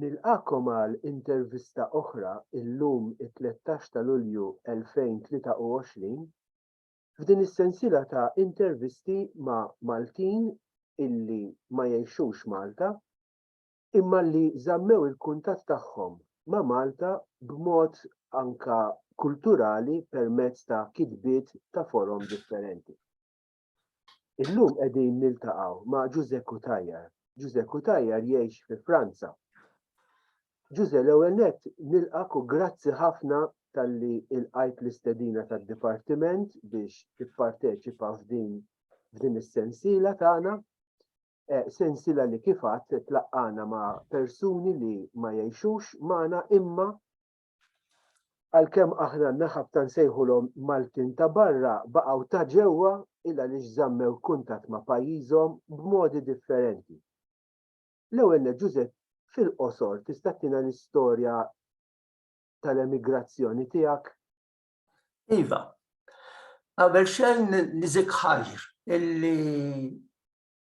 Nilqagħkom għal intervista oħra illum it-tlettax ta' Lulju 2023 f'din is-sensiela ta' intervisti ma' Maltin illi ma jgħixux Malta imma li żammew il-kuntatt tagħhom ma' Malta b'mod anka kulturali permezz ta' kitbiet ta' forom differenti. Illum qegħdin niltaqgħu ma' Ġuże Cutajar. Ġuże Cutajar jgħix fi Franza. Ġuże l-ewwel nett nilqak u grazzi ħafna talli ilqajt l-istedina tad-Dipartiment biex tipparteċipa f'din f'din is-sensiela tagħna. Eh, sensiela li kif għadd tlaqqana ma' persuni li ma jgħixux magħna imma Għalkemm aħna naħabta nsejħulhom Maltin ta' barra, baqgħu ta' ġewwa il għaliex żammew kuntatt ma' pajjiżhom b'modi differenti. L-ewwel nett Ġużepp, fil-qosor tista' ttina l-istorja tal-emigrazzjoni tiegħek? Iva. Qabel xejn niżik ħajr illi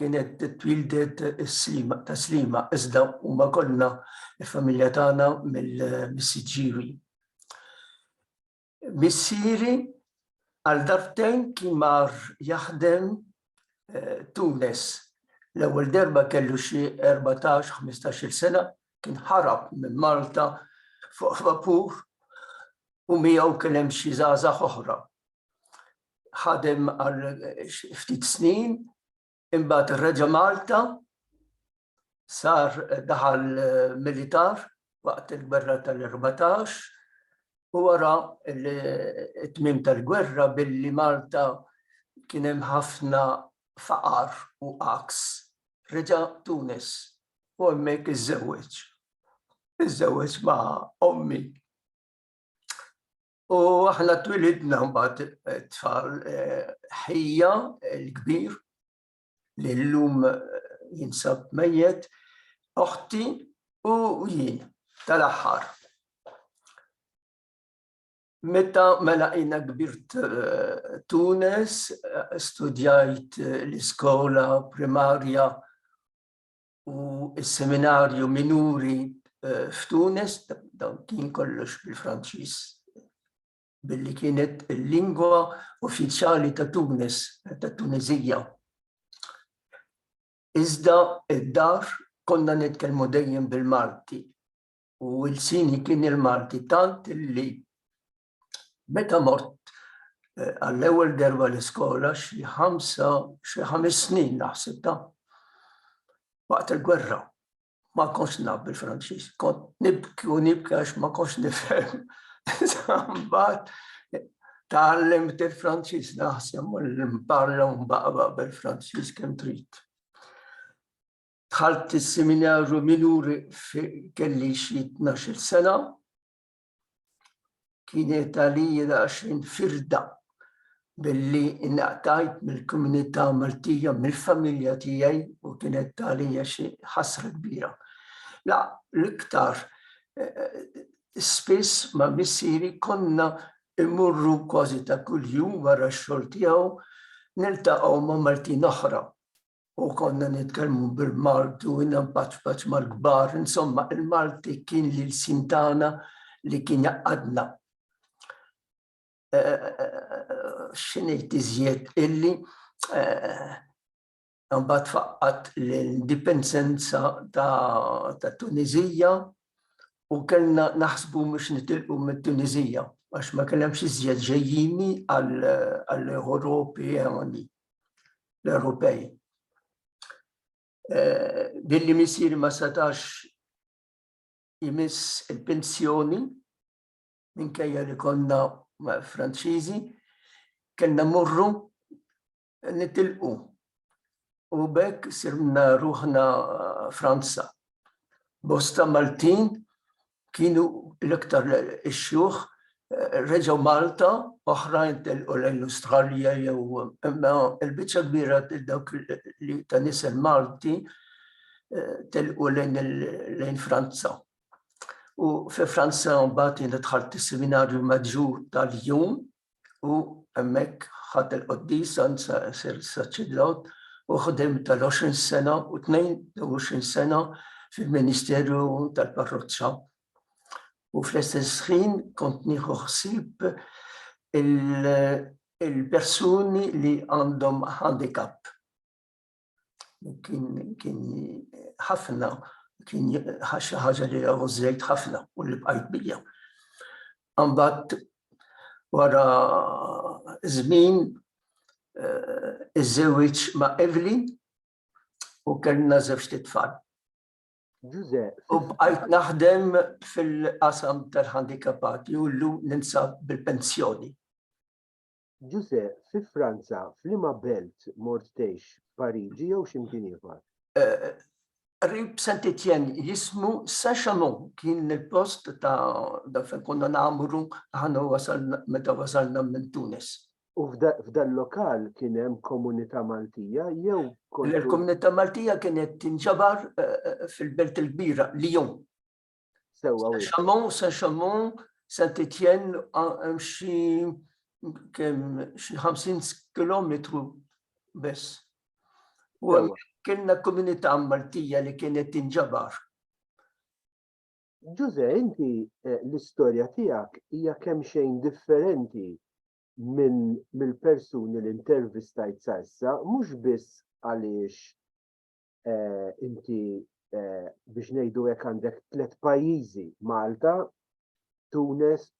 kienet twildet is-slima ta' slima iżda huma konna il-familja tagħna mill-missiġġiewi. Missieri għal dartejn kien mar jaħdem eh, Tunes. L-ewwel darba kellu xi 14-15 sena kien ħarab minn Malta fuq vapur u miegħu kien hemm xi żgħażagħ oħra ħadem għal ftit snin, imbagħad reġa' Malta, sar daħal militar waqt il-gwerra tal-14 u wara t-tmim tal-gwerra billi Malta kien hemm ħafna faqar u aks. Reġa' Tunis u hemmhekk iżżewweġ. Iżżewweġ ma' ommi. U aħna twilidna mbagħad eh, tfal eh, ħija l-kbir li llum eh, jinsab mejjet, oħti u jien tal-aħħar. Meta mela jina kbirt Tunes, studjajt l-iskola primarja u s-seminarju minuri eh, f'Tunis, dawn kien kollox bil-Franċiż billi kienet il-lingwa uffiċjali ta' Tunis, ta' Tunizija. Iżda id-dar konna nitkellmu dejjem bil-Malti u l-sini kien il-Malti tant li Meta mort eh, għall-ewwel derba l-iskola xi ħamsa xi ħames snin naħseb ta' waqt il-gwerra ma konx naf bil-Franċiż, kont nibki u nibki għax ma konx nifhem. Sambat tgħallem il-Franċiż naħseb u l-imparla u mbaqba bil-Franċiż kemm trid. Dħalt is-seminarju minuri kelli xi 12 sena, kienet għalija daqsxejn firda billi inqtajt mill-komunità Maltija, mill-familja tiegħi u kienet għalija xi ħasra kbira. La, l-iktar spiss ma' missieri konna immorru kważi ta' kuljum wara x-xogħol tiegħu niltaqgħu ma' Maltin oħra u konna nitkellmu bil-Malti u nempacpaċ mal-kbar, insomma il-Malti kien li l-sin tagħna li kien jaqqadna. Xinejt iżjed illi mbagħad faqqat l-indipendenza ta' Tunizija u kellna naħsbu mhux nitilqu mit-Tunizija għax ma kellhemx iżjed ġejjini għall-Ewropi għandi. l-Ewropej. Eh, billi misir ma setax jimiss il-pensjoni minkejja li konna Franċiżi, kellna morru nitilqu u bekk sirna ruħna Franza. Bosta Maltin Kienu l-iktar ix-xjuħ reġgħu Malta, oħrajn telqu lejn l-Awstralja jew imma l-biċċa kbira ta' dawk li ta' nisel Malti telqu lejn Franza. U fi Franza mbagħad jiena dħalt is-Seminarju Maġġur ta' Lyon u hemmhekk ħadt il-qoddis sar saċerdot u ħdem tal-20 sena u 22 sena fil-ministeru tal-parroċċa. U fl-istess ħin kont nieħu ħsieb il-persuni li għandhom handicap. kien ħafna, kien ħaxa ħaġa li għavu zejt ħafna u li bqajt bija. Għambat wara zmin eh, iż-żewġ ma' Evelyn u kellna żewġ titfal. U bqajt naħdem fil-qasam tal-handikapati u l-lum ninsab bil-pensjoni. Ġużè, fi Franza f'liema belt mort tgħix, Pariġi jew xi mkien ieħor? Qrib Saint Etienne jismu Saint Chamond kien il-post ta' dak fejn konna nagħmru aħna wasal meta wasalna minn Tunis. U f'dan lokal kien hemm komunità Maltija jew kont. Il-komunità Maltija kienet tinġabar fil-belt il-kbira Lyon. Sewwa wis. Xammon, se xammon, se titjen xi kemm xi 50 kilometru biss. U kienna komunità Maltija li kienet tinġabar. Ġuże, inti eh, l-istorja tiegħek hija kemm xejn differenti minn mill-persuni li intervistajt sa issa, mhux biss għaliex eh, inti eh, biex ngħidu hekk għandek tliet pajjiżi Malta, Tunes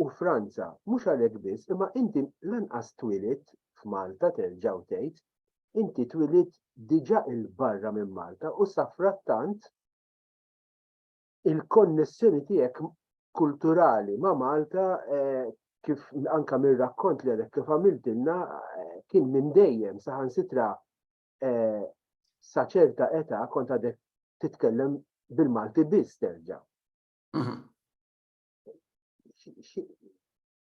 u Franza. Mhux għalhekk biss, imma inti lanqas twilit f'Malta terġaw tgħid, inti twilit diġà il-barra minn Malta u safrattant il-konnessjoni tiegħek kulturali ma' Malta eh, kif anka mir-rakkont li għalek kif għamiltilna eh, kien minn dejjem saħansitra eh, sa ċerta età kont għadek titkellem bil-Malti biss terġa'. Mhm.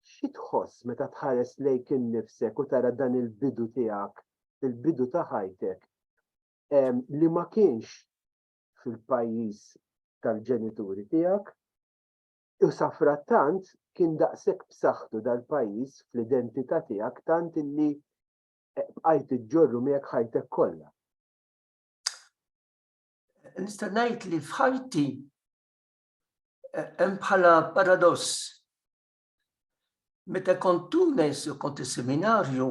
Xi tħoss meta tħares lejk innifsek u tara dan il-bidu tiegħek, il-bidu ta' ħajtek li ma kienx fil-pajjiż tal-ġenituri tiegħek u safrattant kien daqshekk b'saħħtu dal-pajjiż fl-identità tiegħek tant illi bqajt iġġorru miegħek ħajtek kollha. Nista' ngħid li f'ħajti eh, hemm bħala paradoss. Meta kont Tunes u kont is-seminarju,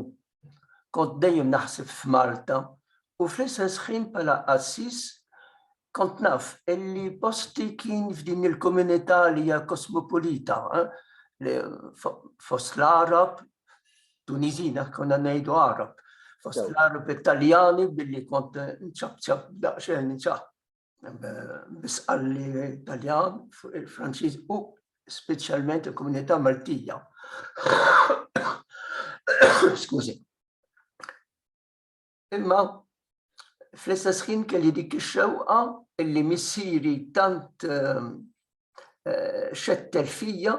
kont dejjem naħseb f'Malta u fl-istess ħin bħala qassis Kont naf illi posti kien f'din il-komunità li hija kosmopolita fost l-Għarab, Tuniżin għax konna ngħidu Għarab, fost l-Għarab Italjani billi kont nċabċab daqsxejn nċab bisqalli Italjan fuq il-Franċiż u speċjalment il-komunità Maltija. Skużi. Imma fl-istess ħin kelli dik ix-xewqa illi missieri tant ehm, eh, xettel fija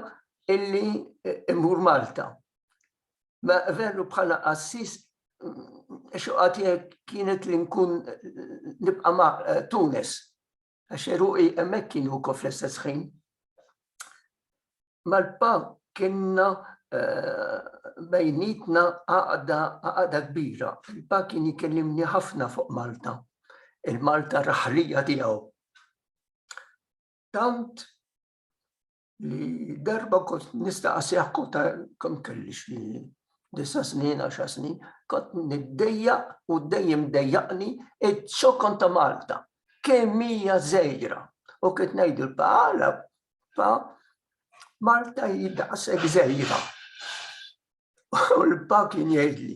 illi eh, immur Malta. Ma veru bħala qassis mm, xoqati kienet li nkun eh, nibqa' ma' Tunis. Għax eruqi hemmhekk kienu wkoll fl-istess ħin. Malpa kienna eh, bejnietna għaqda għaqda kbira. Fil-pa kien jikellimni ħafna fuq Malta, il-Malta raħrija tiegħu. Tant li darba kont nistaqsih kont kemm kelli xi disa snin, għaxa snin, kont niddejja u dejjem dejjaqni iċ-ċokon ta' Malta. Kemm hija żejra. U kif ngħidu l-bħala pa Malta jidaqsek żejra. U l-pa kien jgħidli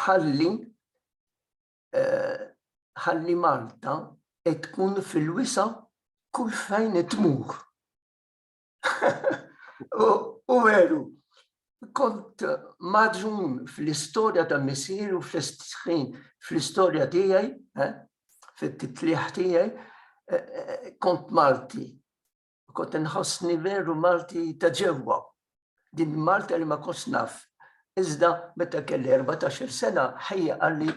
ħalli ħalli Malta tkun fil-wisa' kull fejn tmur. U veru, kont maġun fl-istorja ta' missieri u fl-istorja tiegħi, fit-titlieħ tiegħi, kont Malti. kont inħossni veru Malti ta' ġewwa. Din Malta li ma kontx naf. Iżda meta kelli 14-il sena ħajja qalli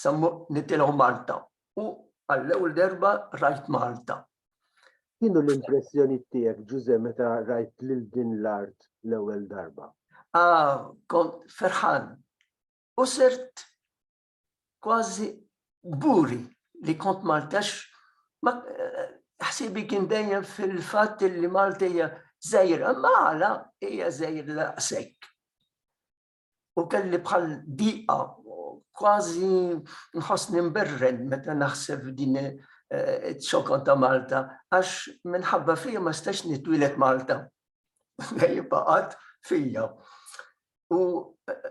sammu nitilgħu Malta u għall-ewwel darba rajt Malta. Kienu l-impressjoni tiegħek Ġuże meta rajt lil din l-art l-ewwel darba? Ah, kont ferħan. U sirt Kważi kburi li kont Maltax, ma ħsiebi kien dejjem fil-fatt li Malta hija żgħira, ma għala hija żgħira daqshekk. U kelli bħal diqa kważi nħossni mberred meta naħseb din ċokon ta' Malta, għax minħabba fija ma stax nitwilet Malta. Jibaqat fija. U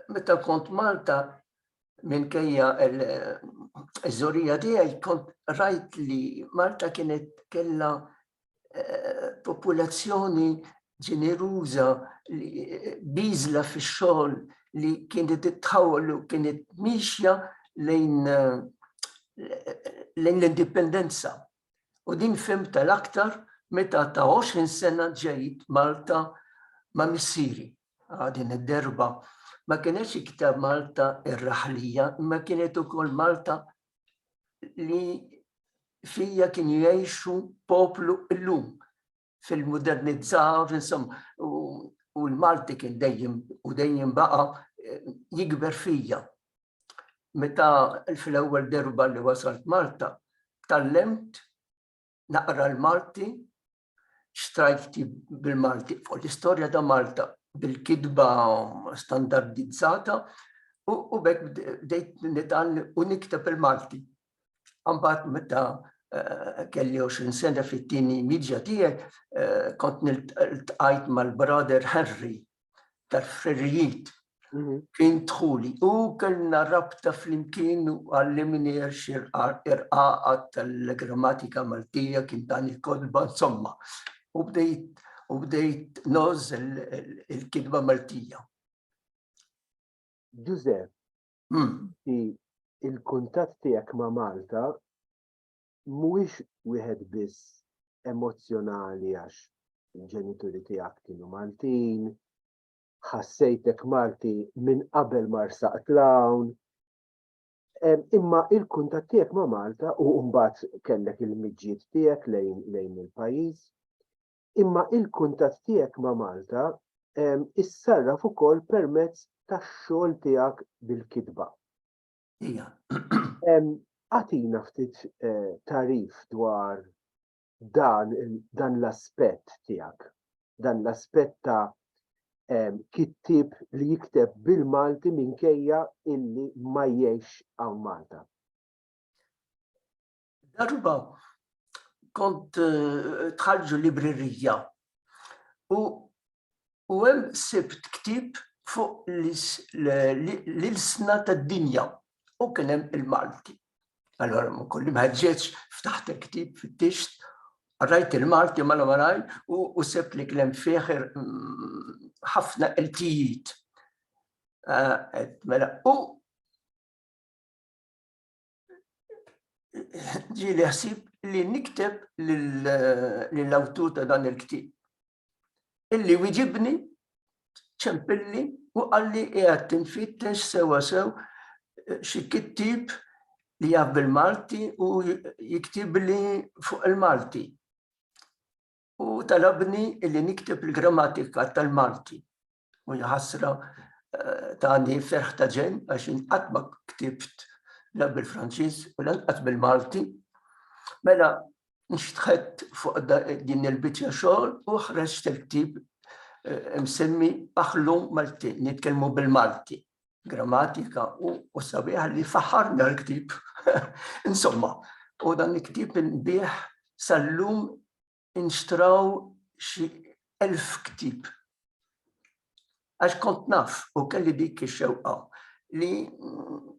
meta kont Malta, minkejja l-żorija tiegħi kont rajt li Malta kienet kella eh, popolazzjoni ġeneruża biżla fix-xogħol li kienet tħawol u kienet mixja lejn eh, lejn l-indipendenza. U din fim tal-aktar meta ta' 20 sena ġejt Malta ma' missiri. din id-derba ma kienx iktar Malta ir-raħlija, imma kienet ukoll Malta li fija kien jgħixu poplu illum fil-modernizzar, insomma, u l-Malti kien dejjem u dejjem baqa eh, jikber fija. Meta fl-ewwel derba li wasalt Malta, tallemt naqra l-Malti strajfti bil-Malti fuq l-istorja ta' Malta bil-kitba standardizzata u bekk bdejt nitan u nikteb il-Malti. Għambat meta eh, kelli 20 sena fit-tini midja tiegħi eh, kont niltqajt mal-brother Henry tal-ħrerijiet mhm. kien dħuli u kellna rabta flimkien u għallimni irqaqa tal-grammatika Maltija kien dan il-kodba insomma. U bdejt u bdejt noż il-kidba Maltija. Ġużepp, hmm. il-kuntatt tiegħek ma' Malta mhuwiex wieħed biss emozzjonali għax il-ġenituri tiegħek kienu Maltin, ħassejtek Malti minn qabel ma rsaqt l-hawn, imma il-kuntatt tiegħek ma' Malta u mbagħad kellek il-miġjiet tiegħek lejn lejn il-pajjiż, imma il-kuntatt tiegħek ma' Malta issarraf ukoll permezz tax-xogħol tiegħek bil-kitba. Ija. Għatina ftit eh, tarif dwar dan, dan l-aspett tiegħek, dan l-aspett ta' kittib li jikteb bil-Malti minkejja illi ma jiex għaw Malta. Darba kont eh, tħarġu librerija u u hemm sibt ktib fuq l-ilsna tad-dinja u kien hemm il-Malti. Allora ma kolli maġġeċ ftaħt il-ktib fit-tixt, rajt il-Malti ma l-maraj u sebt li kien hemm fih mm, ħafna iltijiet. Eh, mela, u ġili ħsib li nikteb lill-awtur ta' dan il-ktib. Illi wieġibni ċempilli u għalli qiegħed tinfittex sewa sew eh, xi kittib li jaf bil-Malti u jiktib li fuq il-Malti. U talabni illi nikteb il-grammatika tal-Malti. u jħassra tani ferħ ta' ġen għax inqatt ma ktibt la bil-Franċiż u lanqas bil-Malti. Mela nxtħet fuq din il-biċċa xogħol u ħreġt il-ktib eh, msemmi aħlu Malti, nitkellmu bil-Malti, grammatika u sabiħ li faħarna l-ktib. Insomma, u dan il-ktib nbieħ sal-lum inxtraw xi elf ktieb. Għax kont naf u kelli dik ix-xewqa li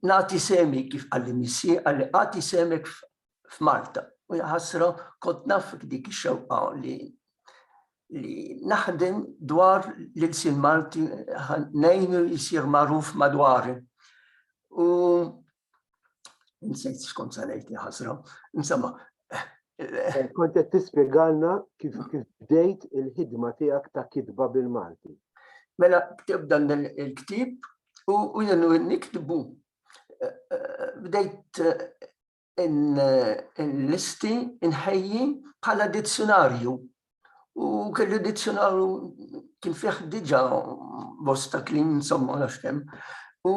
nagħti semi kif qalli missi, qalli għati semek f'Malta. U jħassra kont naf dik ix-xewqa li li naħdem dwar l-ilsin Malti nejnu jisir maruf madwari. U Insejt xkont se ngħid li ħasra. Insomma, eh, kont qed tispjegalna kif kif bdejt il-ħidma tiegħek ta' kitba bil-Malti. Mela ktib dan il-ktib u jenu niktbu. Eh, eh, bdejt il-listi inħejji bħala dizzjonarju U kelli dizzjonarju kien fih diġa bosta klim insomma għax kemm. U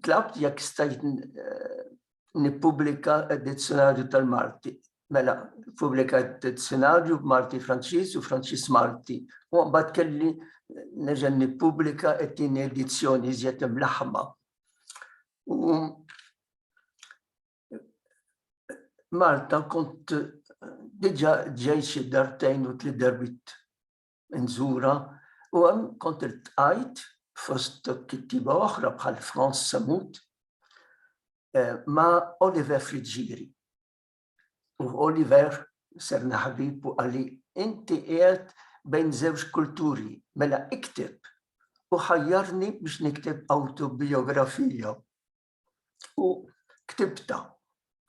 tlabt jekk stajt eh, nippubblika dizzjonarju tal-Malti. Mela, pubblika dizzjonarju Malti Franċiż u Franċiż Malti. U mbagħad kelli neġa' nippubblika t-tieni edizzjoni iżjed imlaħma. U Malta kont diġa ġej xi dartejn u tli derbit nżura u għem kont il-tqajt fost kittiba oħra bħal Franz Samut eh, ma Oliver Friġġiri. U Oliver ser naħbib u għalli inti qiegħed bejn żewġ kulturi mela iktib u ħajjarni biex nikteb autobiografija u ktibta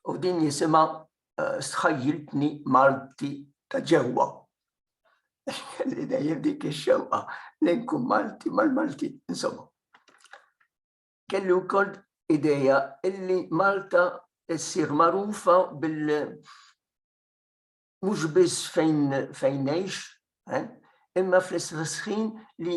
u din jisima eh, sħajjiltni Malti ta' ġewwa. Li dejjem dik ix-xewqa li nkun Malti mal-Malti insomma. Kelli wkoll ideja illi Malta ssir magħrufa bil mhux biss fejn fejn ngħix, eh, imma fl-istess ħin li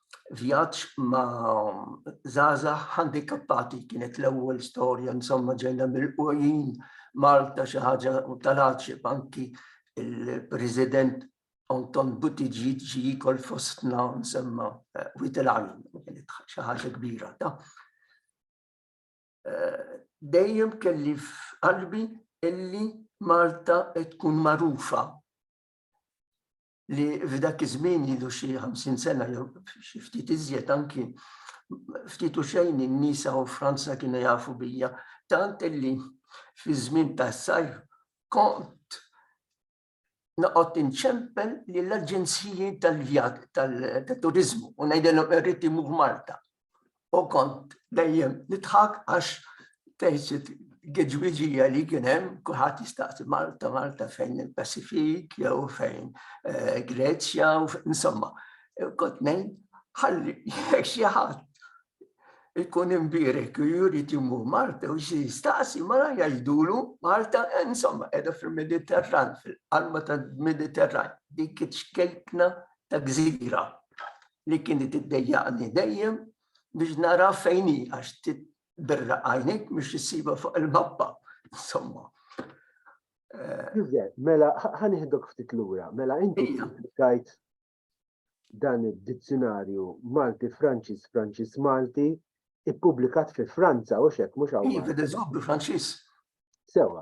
vjaġġ ma' zaza handikappati kienet l-ewwel storja insomma ġejna mill-qujjin Malta xi ħaġa tal-għaġib anki il-President Anton Buttigieg ġi jikol fostna nsemma eh, witilajn, kienet xi ħaġa kbira ta' eh, dejjem kelli f'qalbi illi Malta tkun marufa li f'dak iż-żmien ilu xi 50 sena jew xi ftit iżjed anki ftit u xejn in-nies hawn Franza kienu jafu bija, tant illi fi żmien tas-sajf kont noqgħod inċempel lill-aġenziji tal-vjat tal-turiżmu u ngħidilhom irrid imur Malta. u kont dejjem nidħak għax tgħid gidwiġija li kien hemm kulħadd jistaqsi Malta, Malta fejn il-Pasifik jew fejn eh, Greċja u insomma. Eh, kont ngħid ħalli jekk xi ħadd ikun imbirek u juri timu Malta u xi jistaqsi mara jgħidulu Malta eh, insomma qiegħda fil-Mediterran, fil-qalba tal-Mediterran, dik iċ-ċkejkna ta' gżira li kienet iddejjaqni dejjem biex nara fejn hi għax tibirraq għajnik biex issibha fuq il-mappa. Insomma. Eh, mela, ħaniħdok ftit lura, mela inti tajt dan id-dizzjonarju Malti Franċis Franċis Malti ippubblikat fi Franza u xek mhux hawn. Iva, Franċis. Sewa,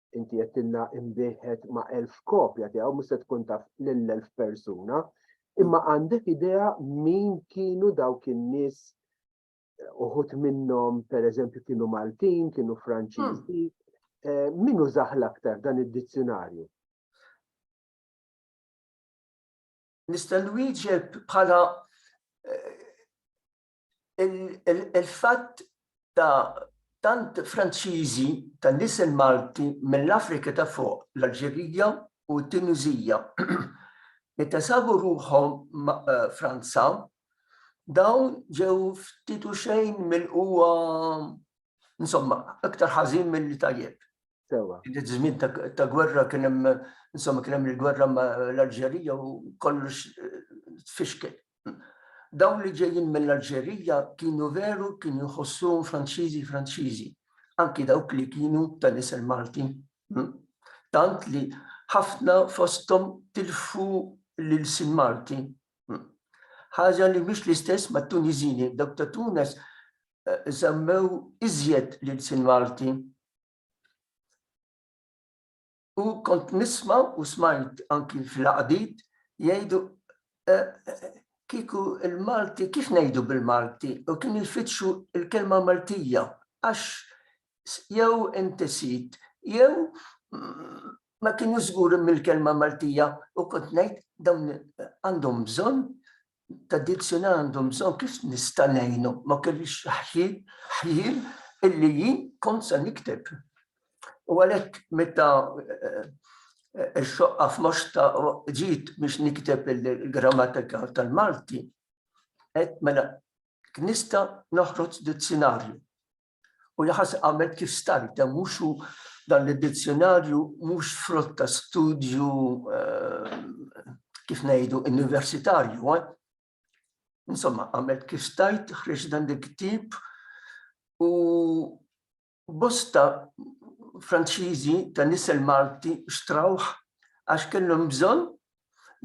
inti jettilna imbiħet ma' elf kopja tiegħu mhux se tkun taf lil elf persuna, imma għandek idea min kienu dawk in-nies uħut minnhom pereżempju kienu Maltin, kienu Franċiżi, hmm. eh, min użaħ l-aktar dan id-dizzjonarju? Nista' nwieġeb bħala eh, il-fatt ta' tant Franċiżi ta' nisel Malti mill-Afrika ta' fuq, l-Alġerija u t-Tuniżija, meta sabu ruħhom Franza, dawn ġew ftit u xejn milqugħa insomma, iktar ħażin milli tajjeb. Sewa. Id żmien ta' gwerra kien hemm insomma kien hemm il-gwerra ma' l-Alġerija u kollox eh, tfixkel. Dawn li ġejjin mill-Alġerija kienu veru kienu jħossuhom Franċiżi Franċiżi, anki dawk li kienu ta' nisel Malti. Hmm? Tant li ħafna fosthom tilfu lil sin Malti. Hmm? Ħaġa li mhix l-istess mat-Tunizini, dawk ta' Tunes isemmew iżjed l-ilsien Malti. U kont nisma' u smajt anki fl-għaqdiet jgħidu kieku l-Malti kif ngħidu bil-Malti u kienu jfittxu l-kelma Maltija għax jew inti sid jew ma kienu żguri mill-kelma Maltija u kont ngħid dawn għandhom bżonn tradizzjoni għandhom bżonn kif nista' ngħinhom. Ma kellix ħjiel illi jien kont se nikteb. U għalhekk meta x-xoqqa f'moxta ġiet biex nikteb il-grammatika tal-Malti, qed mela nista' noħroġ dizzjonarju. U jaħas għamel kif stajt, dan mhux hu dan l-dizzjonarju mhux frott ta' studju eh, kif ngħidu universitarju. Eh? Insomma, għamel kif stajt ħriġ dan il-ktib u bosta Franċiżi ta' nisel Malti xtrawħ għax kellhom bżonn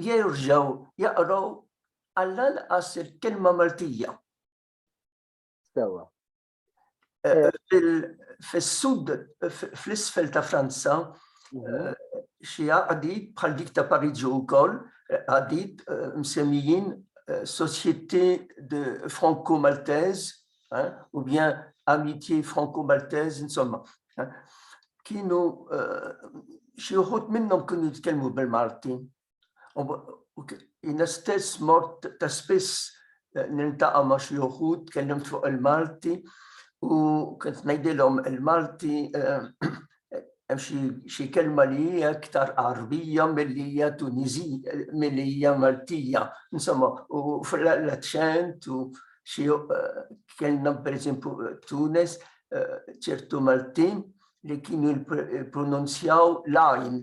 jerġgħu jaqraw għall-anqas il-kelma Maltija. Sewa. Eh, Fis-sud, fl-isfel ta' Franza, mhm. eh, xi għadid bħal dik ta' Pariġi wkoll, eh, għadid eh, msemmijin Société de Franco-Maltese u bien Amitié Franco-Maltese, insomma. Kienu xi wħud minnhom kienu jitkellmu bil-Malti, Jiena stess mort ta' spiss eh, nintaqa' ma' xi uħud tkellimt fuq il-Malti u kont ngħidilhom il-Malti eh, hemm xi kelma li hija iktar Arbija milli hija Tunizija milli hija Maltija. Insomma, u fl-aċċent u xi eh, kellna pereżempju Tunes ċertu Maltin li kienu jipronunzjaw lajn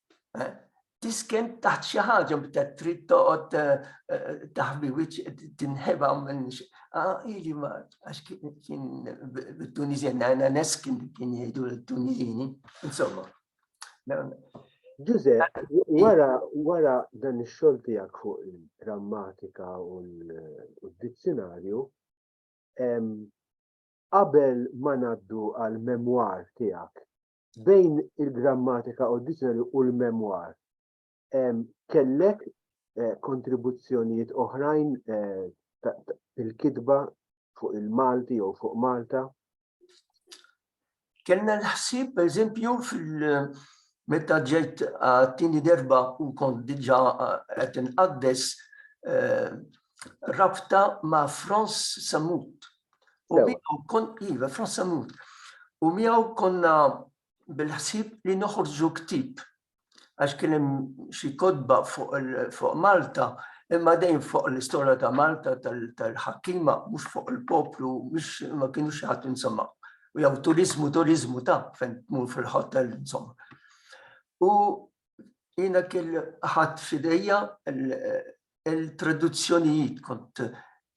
Eh? tisken taħt xi ħaġa bta trid toqgħod eh, eh, taħbi wiċċ tinħeba minn ah, ili ma għax kien bit-Tunisien għana neskin kien jgħidu l-Tunisini, insomma. Ġuże, wara wara dan ix-xogħol tiegħek fuq il-grammatika u l-dizzjonarju, qabel ma ngħaddu għal memwar tiegħek bejn il-grammatika u d-dizjonarju u l-memwar, kellek eh, kontribuzzjonijiet oħrajn eh, fil-kitba fuq il-Malti jew fuq Malta? Kellna l-ħsib, per eżempju, fil- meta ġejt għattini derba u kont diġa għet inqaddes eh, rabta ma' Franz Samut U miegħu kon iva fl-assalut. U miegħu konna bil-ħsieb li noħorġu ktib għax kien hemm xi kodba fuq Malta imma dejjem fuq l-istorja ta' Malta tal-ħakkima mhux fuq il-poplu mhux ma kienu xi ħadd insomma. U jew turizmu turizmu ta' fejn tmur fil-hotel insomma. U jiena kien ħadd f'idejja Il-traduzzjonijiet kont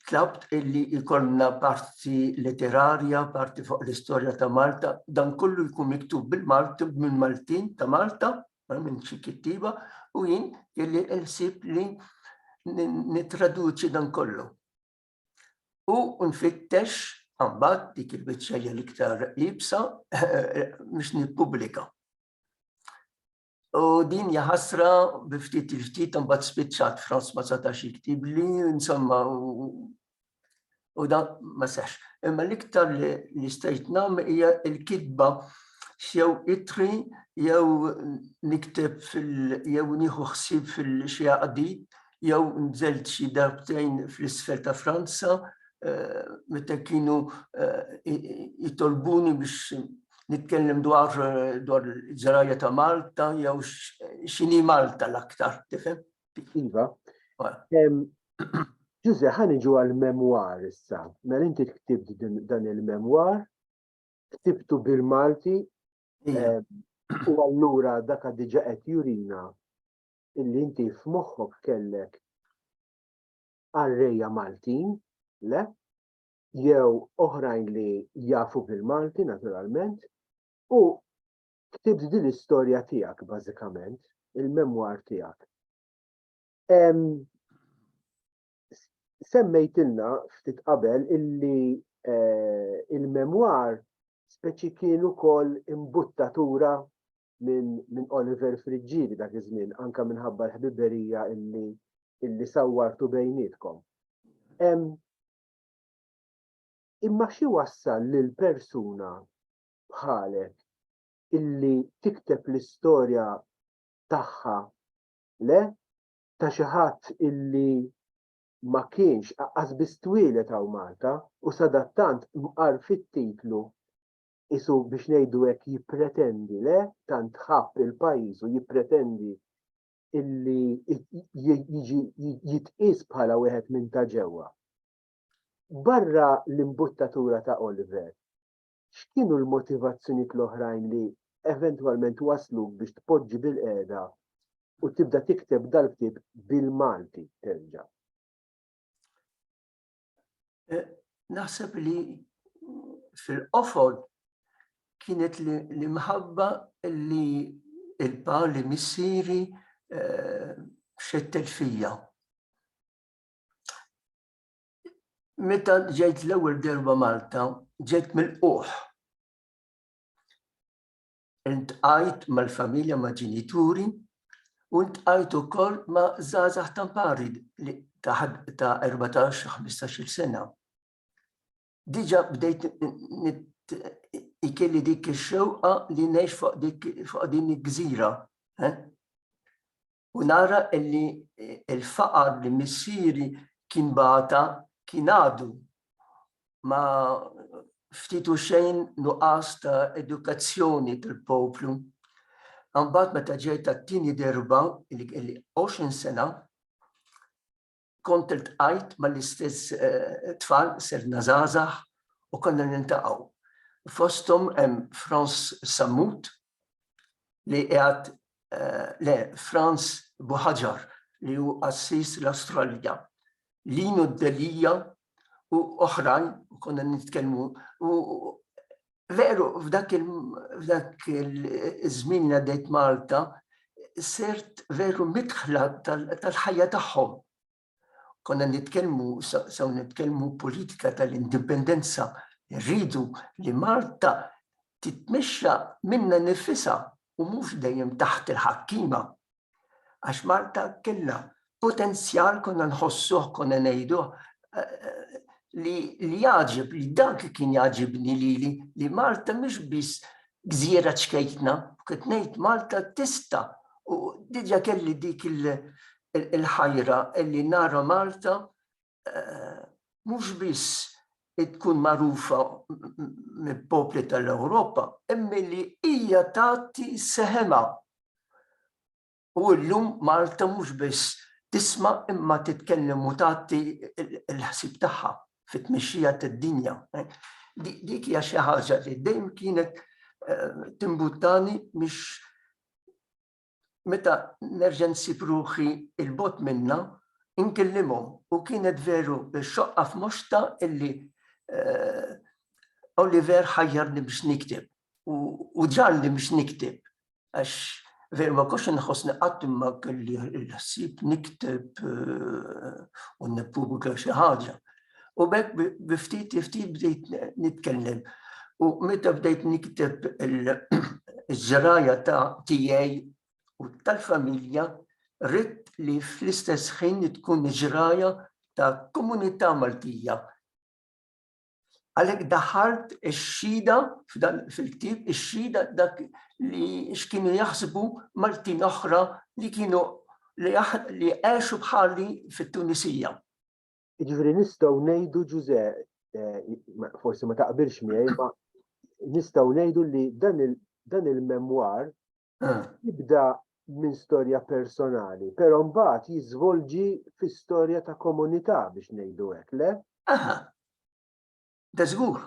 tlabt illi jkollna parti letterarja, parti fuq l-istorja ta' Malta, dan kollu jkun miktub bil-Malti minn Maltin ta' Malta, minn xi kittiba, u jien illi l-ħsieb li nitraduċi dan kollu. U nfittex għambat dik il-biċċa l-iktar ibsa biex nippubblika. U din hija ħasra bi ftit il-ftit imbagħad spiċċat Franz ma setax jiktib li insomma u da ma sex. Imma l-iktar li stajt nam hija l-kitba jew itri jew nikteb fil jew nieħu ħsieb fil-xi għaqdit jew nżelt xi darbtejn fl-isfel ta' Franza meta kienu jitolbuni biex nitkellem dwar dwar ġrajja ta' Malta jew x'inhi Malta l-aktar, tifhem? Iva. Ġuże, ħa niġu għall-memwar issa. Mela inti ktibt dan il-memwar, ktibtu bil-Malti, u allura dak diġa qed jurina illi inti f'moħħok kellek għarrejja Maltin, le, jew oħrajn li jafu bil-Malti naturalment, u ktibt din l-istorja tiegħek bażikament, il-memwar tiegħek. Semmejtilna ftit qabel illi eh, il-memwar speċi kien ukoll imbuttatura minn Oliver Friġġieri dak iż-żmien anke minħabba l-ħbiberija illi illi sawwartu bejnietkom. Imma xi wassal lil persuna bħalek illi tikteb l-istorja tagħha le ta' xi ħadd illi ma kienx aqqas biss twieled hawn Malta u sadattant mqar fit-titlu qisu biex ngħidu hekk jippretendi le tant ħabb il-pajjiż u jippretendi illi jiġi jitqies bħala wieħed minn ta' ġewwa. Barra l-imbuttatura ta' Oliver, x'kienu l-motivazzjonijiet l-oħrajn li eventwalment waslu biex tpoġġi bil-qiegħda u tibda tikteb dal-ktieb bil-Malti terġa'? Eh, naħseb li fil-qofol kienet li mħabba li il-pa li missiri eh, xettet fija. Meta ġejt l-ewwel derba Malta, ġejt mill-qoħ. Intqajt mal-familja ma' ġenituri u ntqajt ukoll ma' żgħażagħ tampari li ta' 14-15 sena. Diġa bdejt ikelli dik ix-xewqa li ngħix fuq din il-gżira. Eh? u nara illi il-faqar li missieri kien bata kien għadu ma ftitu xejn nuqqas ta' edukazzjoni tal-poplu. Għambat meta ġejt tat-tieni derba, il-20 sena, Kont iltqajt mal-istess tfal, sirna żgħażagħ u konna niltaqgħu. Fosthom hemm Frans Sammut li qiegħed le, Frans Buħaġar li hu qassis l-Astralja, Lino Delia u oħrajn, u konna nitkellmu, u veru f'dak il-żmien għaddejt Malta, sirt veru mitħla tal-ħajja tagħhom. Konna nitkellmu, sew nitkellmu politika tal-indipendenza, rridu li Malta titmexxa minna nifisa u mhux dejjem taħt il-ħakkima Għax Malta kellha potenzjal konna nħossuh, konna ngħiduh li li jagħġib li dak li kien jagħġibni lili li Malta mhix biss gżira ċkejtna, kif ngħid Malta tista' u diġà kelli dik il-ħajra li nara Malta mhux biss tkun magħrufa mill-popli tal-Ewropa, imma li hija tagħti seħemha. U llum Malta mhux biss tisma' imma titkellem u tagħti l-ħsieb tagħha fit-tmexxija tad-dinja. Dik hija xi ħaġa li dejjem kienet timbuttani biex meta nerġa' nsib ruħi 'l bogħod minnha, inkellimhom u kienet veru xoqqa f'moxta illi Oliver ħajjarni biex nikteb u ġarni biex nikteb għax veru ma kontx inħossni qatt imma kelli l-ħsieb nikteb u nippubblika xi ħaġa. U bekk biftit ftit bdejt nitkellem. U meta bdejt nikteb il-żraja ta' tijaj u tal-familja, rrit li fl-istess ħin tkun żraja ta' komunità Maltija. Għalek daħalt ix-xida fil-ktib, ix-xida dak li x'kienu jaħsbu Maltin oħra li kienu li għexu bħali fit-Tunisija. Jiġifieri nistgħu ngħidu Ġużè, eh, forsi ma taqbilx miegħi, ma nistgħu ngħidu li dan il-memwar ah. jibda minn storja personali, però mbagħad jiżvolġi fi storja ta' komunità biex ngħidu hekk, le? Aha. Da żgur.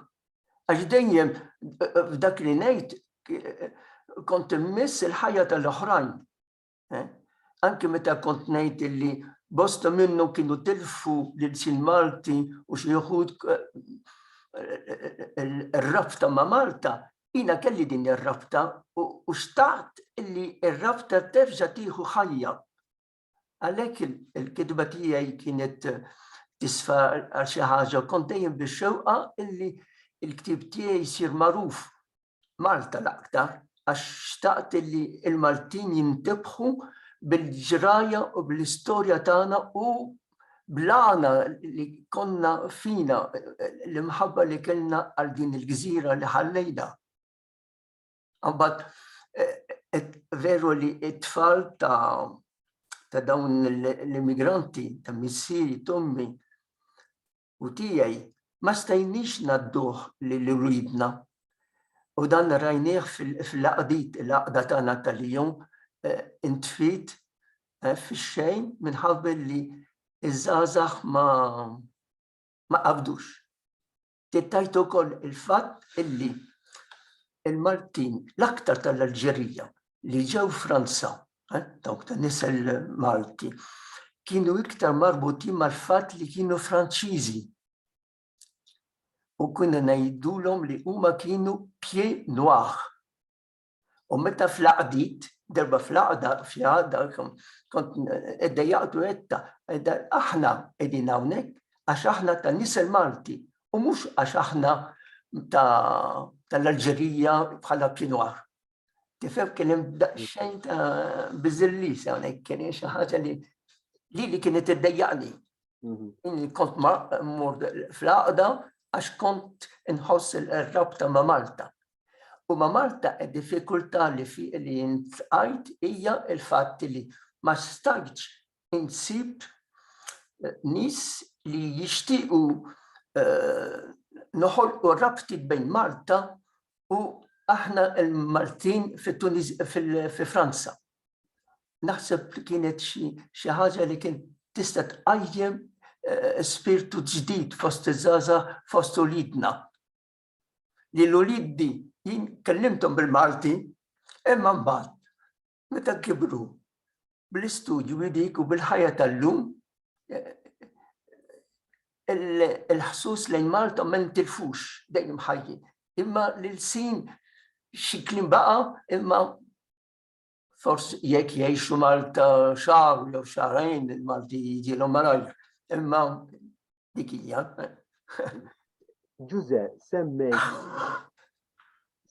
Għax dejjem eh, eh, f'dak li ngħid kont immiss il-ħajja tal-oħrajn. Eh? Anki meta kont ngħid illi bosta minnhom kienu tilfu lil sin Malti u xi wħud eh, eh, rabta ma' Malta, jina kelli din ir-rabta u xtaqt illi ir-rabta terġa' tieħu ħajja. Għalhekk il-kitba tiegħi kienet tisfa għal xi ħaġa kont dejjem bix-xewqa illi il-ktib tiegħi jsir magħruf Malta l-aktar għax xtaqt li l-Maltin jintebħu bil-ġrajja u bl-istorja tagħna u bl-għana li konna fina, l-imħabba li kellna għal din il-gżira li ħallejna. Mbagħad veru li t-tfal ta' dawn l-immigranti ta' missieri tommi u tiegħi ma stajniex ngħadduh lil uliedna. U dan rajnieh fil-għaqdiet, il-għaqda tagħna tal-jum intfiet fix-xejn minħabba li ż-żgħażagħ ma qabdux. Tittajt ukoll il-fatt illi il-Maltin, l-aktar tal-Alġerija li ġew Franza dawk ta' nisel Malti, kienu iktar marbutin mal-fatt li kienu Franċiżi. U kienu ngħidulhom li huma kienu pie noir. U meta fl-aqdit, darba fl-aqda, fl-aqda, kont edda jaqdu etta, edda aħna edin hawnhekk għax aħna ta' nisel Malti u mhux għax aħna tal-Alġerija bħala pie noir. Tifhem kien hemm daqsxejn ta' biżillis hawnhekk kien xi ħaġa li li li kienet iddejjaqni. Mhm. Kont ma mmur fl-għaqda għax kont inħoss il-rabta ma' Malta. U ma' Malta id diffikultà li fi li jintqajt hija il-fatt li ma stajtx insib nies li jixtiequ noħolqu rabtiet bejn Malta u aħna l-Maltin fi Franza. Naħseb li kienet xi ħaġa li kienet tista' tqajjem spirtu ġdid fost iż-żgħażagħ fost uliedna. Lil uliedi jien kellimthom bil-Malti imma mbagħad meta kibru bl-istudju jdiku bil-ħajja tal-lum il-ħsus lejn Malta ma jintilfux dejjem ħajji. Imma l-sin xi klim baqa imma forsi jekk jgħixu Malta xahar jew xahrajn il-Malti jiġilhom malajr. Imma Dik hija. Ġuże, semmejt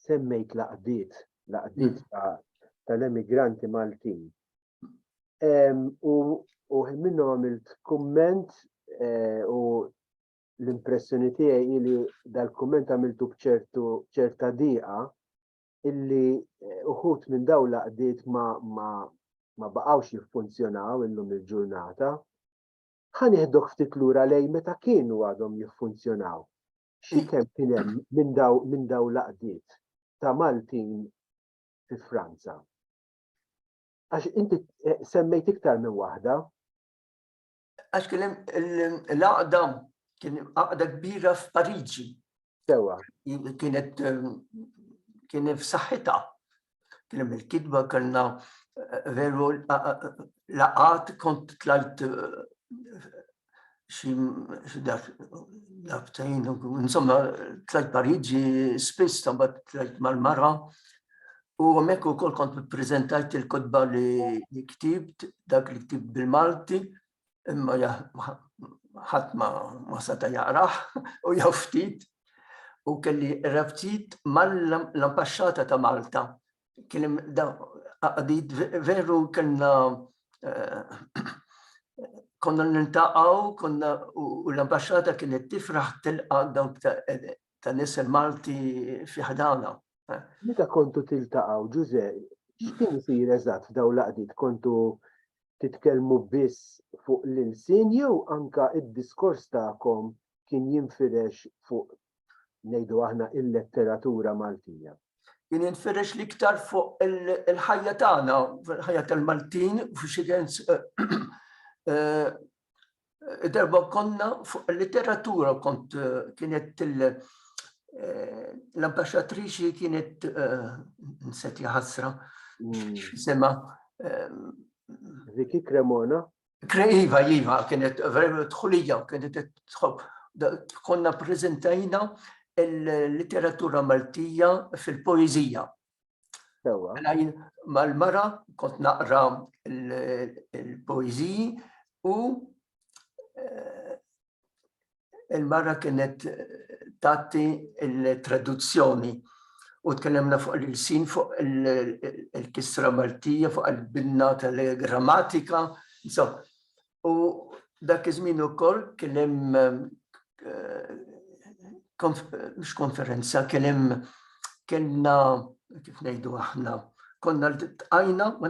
semmejt laqdiet, laqdiet mm. tal-emigranti Maltin. U minnu għamilt komment eh, u l-impressjoni tiegħi li dal-komment għamiltu bċertu ċerta diqa illi eh, uħut minn daw laqdiet ma, ma, ma baqawx jiffunzjonaw illum il-ġurnata Ħa nieħduk ftit lura lejn meta kienu għadhom jiffunzjonaw. Xi kemm kien hemm minn daw minn daw l-għaqdiet ta' Maltin fi Franza? Għax inti eh, semmejt iktar minn waħda. Għax kien hemm l-għaqda kien għaqda kbira f'Pariġi Sewa, kienet kien f'saħħitha. Kien hemm il-kitba kellna eh, veru laqat kont tlajt eh, xi darbtejn, insomma tlajt Pariġi spiss tabad tlajt mal-mara. U hemmhekk ukoll kont prezentajt il-kotba li ktibt, dak li ktibt bil-Malti, imma ħadd ma seta' jaqrah u jew ftit u kelli rabtiet mal-Ambaxxata ta' Malta. Kien hemm qadid veru kellna konna nintaqgħu konna u l-Ambaxxata kienet tifraħ tilqa' dawk ta' nies il-Malti fi ħdana. Meta kontu tiltaqgħu Ġużè, x'kien isir eżatt f'dawn l-qadid kontu titkellmu biss fuq l-ilsien jew anke d-diskors tagħkom kien jinfirex fuq, ngħidu aħna, il-letteratura Maltija? Kien jinfirex l-iktar fuq il-ħajja tagħna, il-ħajja tal-Maltin, f'xi sens Darba konna fuq il-literatura kont eh, kienet eh, l-ambasċatriċi kienet eh, nset jħasra mm. sema Ziki Cremona? Iva, Iva, kienet verament tħulija, kienet tħob. Konna prezentajna il-literatura Maltija fil-poezija. Sewa. Mela jien mal-mara kont naqra l-poeziji u eh, il-mara kienet tatti il-traduzzjoni u tkellemna fuq l-sin fuq il-kisra Maltija, fuq il-binna tal-grammatika, insomma, U dak iż-żmien ukoll kien hemm mhux konferenza, kien hemm kellna kif ngħidu aħna, konna l-tqajna, ma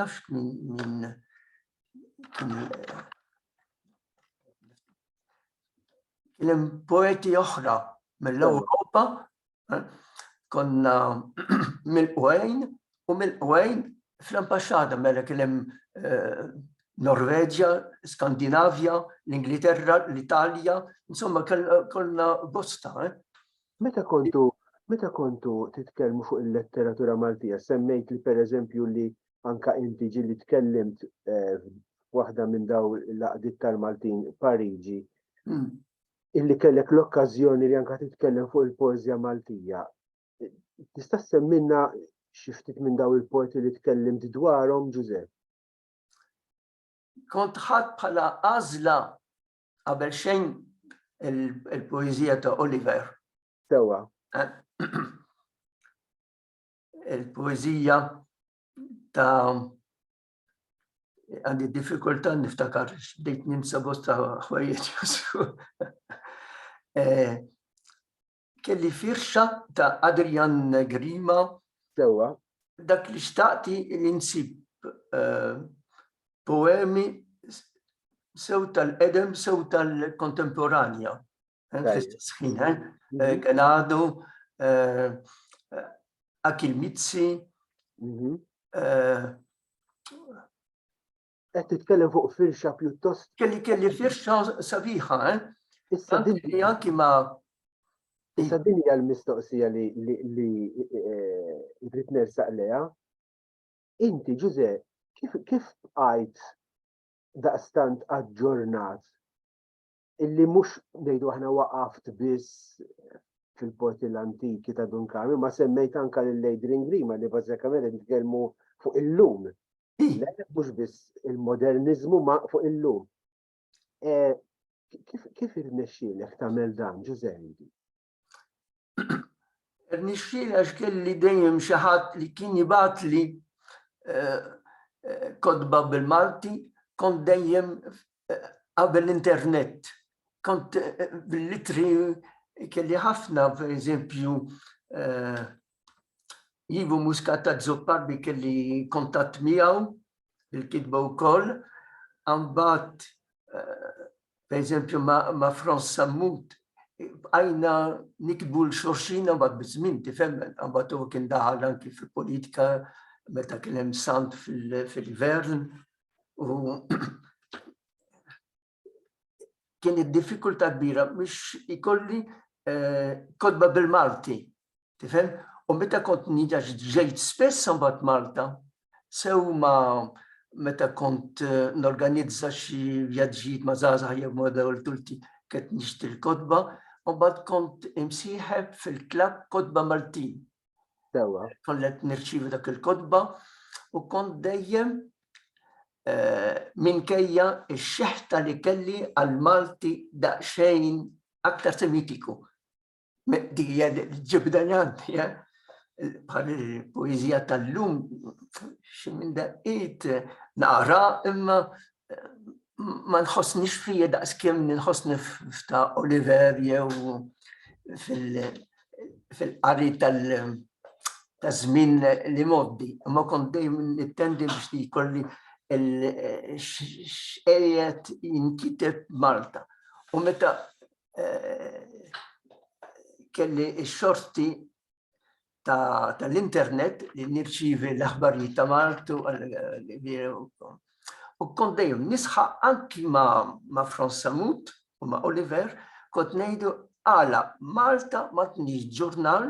nafx minn kien hemm poeti oħra mill-Ewropa Konna mill-qwejn u mill-qwejn fl-ambasċata mela kien hemm eh, Norveġja, Skandinavja, l-Ingilterra, l-Italja, insomma konna bosta. Eh. Meta kontu meta kontu titkellmu fuq il-letteratura Maltija, semmejt li per eżempju li anka inti ġili tkellimt eh, waħda minn daw l-laqdiet tal-Maltin Pariġi. Hmm. illi kellek l-okkażjoni li anka titkellem fuq il-poeżja Maltija. Tista' semmilna xi ftit minn daw il-poeti li tkellimt dwarhom, Ġużepp? Kont ħadd bħala għażla qabel xejn il-poeżija ta' Oliver. Sewa. Eh, il-poeżija ta' għandi diffikultà niftakar bdejt ninsa bosta ħwejjeġ. Eh, kelli firxa ta' Adrian Grima. Sewa. Dak li xtaqti li nsib eh, poemi sew tal-edem, sew tal-kontemporanja. fl-istess ħin, eh? Mhm. Eh, kien għadu eh, Akil Mizzi. Mhm. Qed titkellem fuq firxa pjuttost. Kelli kelli firxa sabiħa, eh? Issa dinja anki ma. Issa dinja l-mistoqsija li li rrid nersaq leha. Inti Ġuże, kif kif bqajt daqstant aġġornat illi mhux ngħidu aħna waqaft biss fil-porti l-antiki ta' Dunkami, ma semmejt anka lil Adrian Grima li bażikament nitkellmu fuq illum. Mhux biss il-moderniżmu ma fuq illum. E, kif irnexxielek tagħmel dan, Ġużendi? Nixxil għax kelli dejjem xi ħadd li kien jibgħatli eh, eh, kodba bil-Malti, kont dejjem eh, qabel l-internet. Kont bil-litri kelli ħafna, per eżempju, Ivo Muscat ta' Zoppar bi kelli kontatt miegħu il-kitba wkoll. Ambat, eh, per eżempju, ma' Franz Sammut, għajna nikbu l-xorxina bat bizmin tifemmen, għambat u kien daħal anki fil-politika meta kien hemm sant fil-gvern u kien id-diffikultà kbira biex ikolli eh, kodba bil-Malti. Tifhem? U meta kont niġax ġejt spess mbagħad Malta, sew ma meta kont eh, norganizza xi vjaġġijiet ma' żgħażagħ jew ma' dawl tulti kett nixtri l-kodba, u mbagħad kont imsieħeb fil-klabb kodba Maltin. Sewa. Kollet nirċivi dak il-kotba u kont dejjem eh, minkejja x-xeħta li kelli għal Malti daqsxejn aktar semitiku. Dija li ġibda li għandi, eh? bħal poezija tal-lum, xi minn daqqiet naqra imma ma nħossnix fija daqs kemm nħossni f'ta' Oliver jew fil-qari tal- ta' żmien li moddi, imma kont dejjem nittendi biex li jkolli x'qiegħed jinkiteb b'Malta. U meta kelli x-xorti tal-internet li nirċivi l-aħbarijiet ta' Maltu u kont dejjem nisħa anki ma' Franz Samut u ma' Oliver kont ngħidu għala Malta ma tniex ġurnal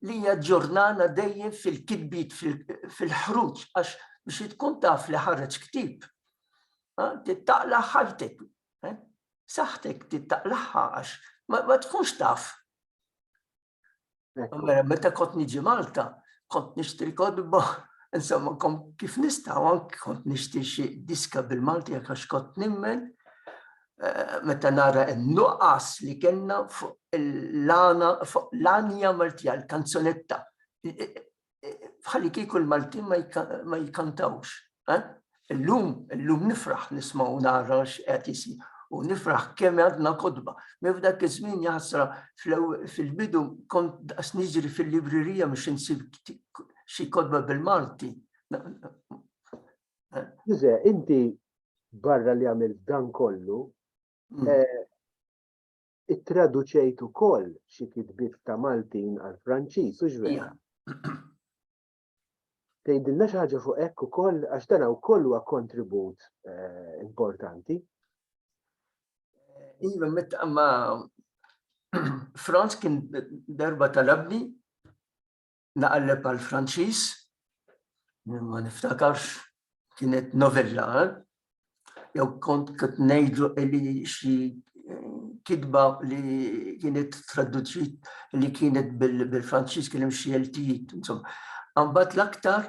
li hija ġurnana dejjem fil-kitbiet fil-ħruġ għax biex tkun taf li ħareġ ktib. Tittaqla ħajtek, saħtek tittaqlaħħa għax ma tkunx taf Mela, meta kont niġi Malta, kont nixtri kodba, insomma, kif nista' anki kont nixtri xi diska bil-Malti għax kont nimmen eh, meta nara n-nuqqas li kellna fuq l-anja Maltija, l-kanzunetta. bħalli kieku l-Maltin ma jkantawx. Eh? Illum, illum nifraħ nismaw nara x'qed isir u nifraħ kemm għadna kodba. Minn f'dak iż-żmien jaħsra fil-bidu kont daqs niġri fil-librerija biex insib xi kodba bil-Malti. Ġuże, inti barra li għamil dan kollu, mm. eh, ittraduċejt ukoll xi kitbiet ta' Maltin għall-Franċiż, hux vera? Tgħidilna xi ħaġa fuq hekk ukoll għax dan wkoll huwa kontribut eh, importanti. Iva, meta ma Franz kien darba talabni naqleb għal Franċiż, ma niftakarx kienet novella, eh? jew kont kont ngħidu li xi eh, kitba li kienet traduċit li kienet bil-Franċiż kien hemm xi eltijiet, insomma. Ambat l-aktar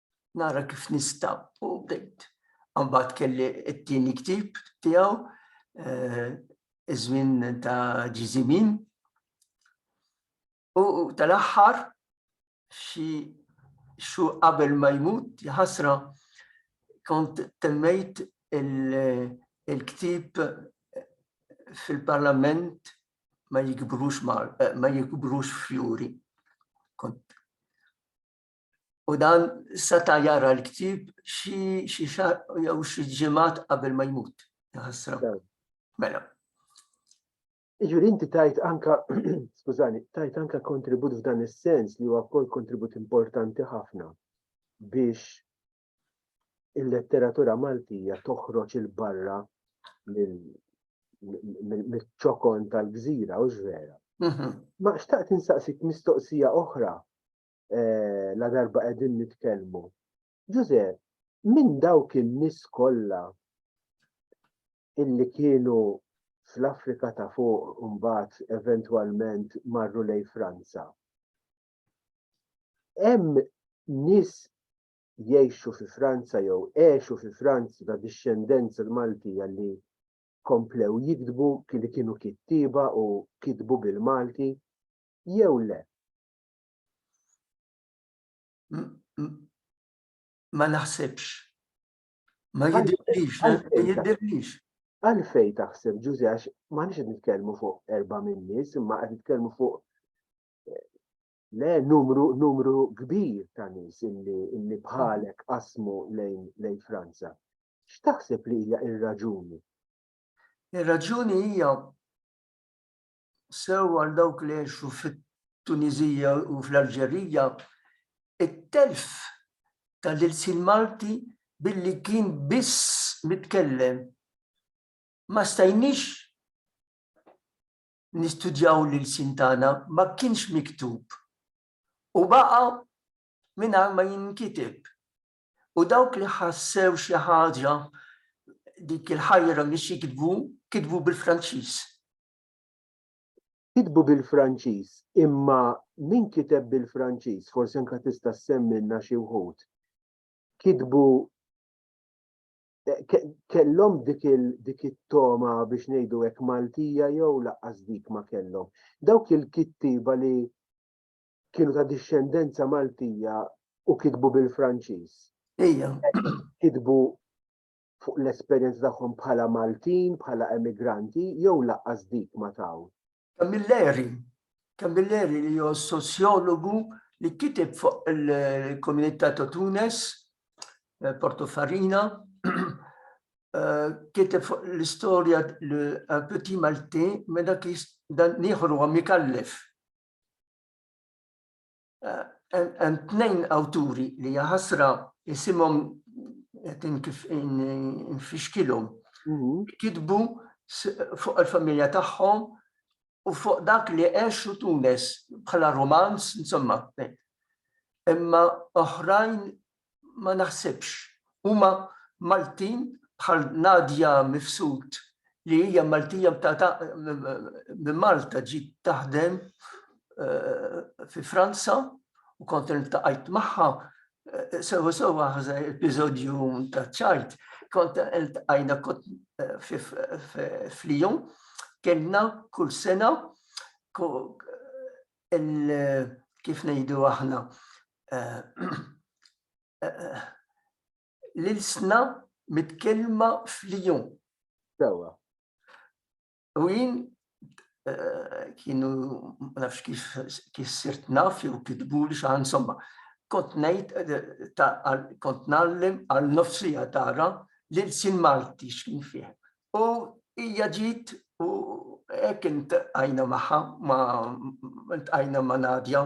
nara kif nista' u bdejt. Mbagħad kelli t-tieni ktib tiegħu eh, iż-żmien ta' ġiżimin. U tal-aħħar xi xu qabel ma jmut jħasra kont temmejt il-ktib fil-parlament ma jikbrux eh, ma jikbrux fjuri. Kont U dan seta' jara l-ktib xi xar jew xi ġimgħat qabel ma jmut. Mela. Iġuri inti tajt anka, skużani, tajt anka kontribut f'dan is-sens li huwa wkoll kontribut importanti ħafna biex il-letteratura Maltija toħroġ il-barra mill-ċokon tal-gżira u ġvera. Mhm. Ma xtaqt insaqsik mistoqsija oħra eh, la darba qegħdin nitkellmu. Ġuże, minn dawk in-nies kollha illi kienu fl-Afrika ta' fuq mbagħad eventwalment marru lej Franza. Hemm nies jgħixu fi Franza jew għexu fi Franza ta' dixxendenza l-Maltija li komplew jikdbu li kienu kittiba u kitbu bil-Malti jew le. ma naħsibx. Ma jidirlix, ma jidirlix. Għalfej taħseb ġużi għax ma nix nitkellmu fuq erba' minn nies, imma qed nitkellmu fuq eh, le numru numru kbir ta' nies illi illi bħalek qasmu lejn lejn Franza. X'taħseb li hija ir-raġuni? Ir-raġuni hija sew għal dawk li għexu fit-Tuniżija u fl-Alġerija, it-telf tal-ilsien Malti billi kien biss mitkellem. Ma stajniex nistudjaw l-ilsien tagħna, ma kienx miktub u baqa' mingħajr ma jinkiteb. U dawk li ħassew xi ħaġa dik il-ħajra biex jikdbu, kitbu bil-Franċiż. Kitbu bil-Franċiż, imma min kiteb bil-Franċiż, forsi anke tista' ssemmilna xi wħud, kitbu kellhom dik it-togħma biex ngħidu hekk Maltija jew laqqas dik ma kellhom. Dawk il-kittieba li kienu ta' dixxendenza Maltija u kitbu bil-Franċiż. Ejja. Kitbu fuq l-esperjenza tagħhom bħala Maltin, bħala emigranti jew lanqas dik ma taw. Camilleri, Camilleri li hu soċjologu li kiteb fuq il-komunità ta' Tunes, eh, Porto Farina, eh, kiteb fuq l-istorja l-Petit eh, Malti, meta dan nieħru għam ikallef. hemm tnejn awturi li jaħasra jisimhom kif infixkilhom. Mhm. Kitbu fuq il-familja tagħhom u fuq dak li għexu Tunes bħala romanz, insomma. Imma oħrajn ma naħsibx. Huma Maltin bħal Nadia Mifsud li hija Maltija mtata minn Malta ġiet taħdem fi Franza u kont iltaqajt magħha sewa sewa ħaża episodju ta' ċajt kont iltqajna kont f'Lyon kellna kull sena kif ngħidu aħna l-ilsna mitkellma fl-jum. Sewa. U jien eh, kienu nafx kif kif sirt naf jew kitbu li xaħan insomma. Kont ngħid eh, kont nallim għal nofsija tara li l-sin Malti x'kien fih. U hija ġiet u hekk intqajna magħha ma intqajna ma' Nadja.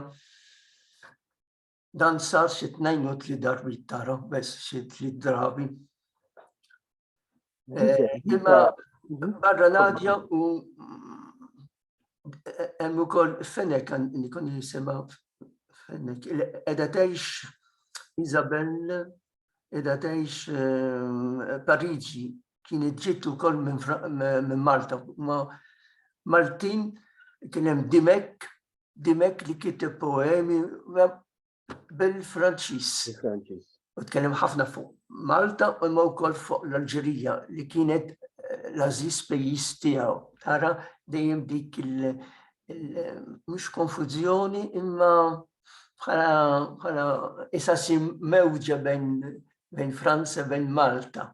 Dan sar xi tnejn u tli darbi tara, bes xi tli drabi. Eh, imma barra Nadja u eh, hemm ukoll Fenek nikun jisimha Fenek. Qiegħda tgħix Isabel, qiegħda tgħix eh, Pariġi kienet ġiet ukoll minn Malta. Ma Maltin kien hemm Dimek, Dimek li kiteb poemi bil-Franċiż. U tkellem ħafna fuq Malta u ma wkoll fuq l-Alġerija li kienet eh, l-aziz pejjiż tiegħu. Tara dejjem dik il- mhux konfużjoni imma bħala isa mewġa bejn Franza bejn Malta.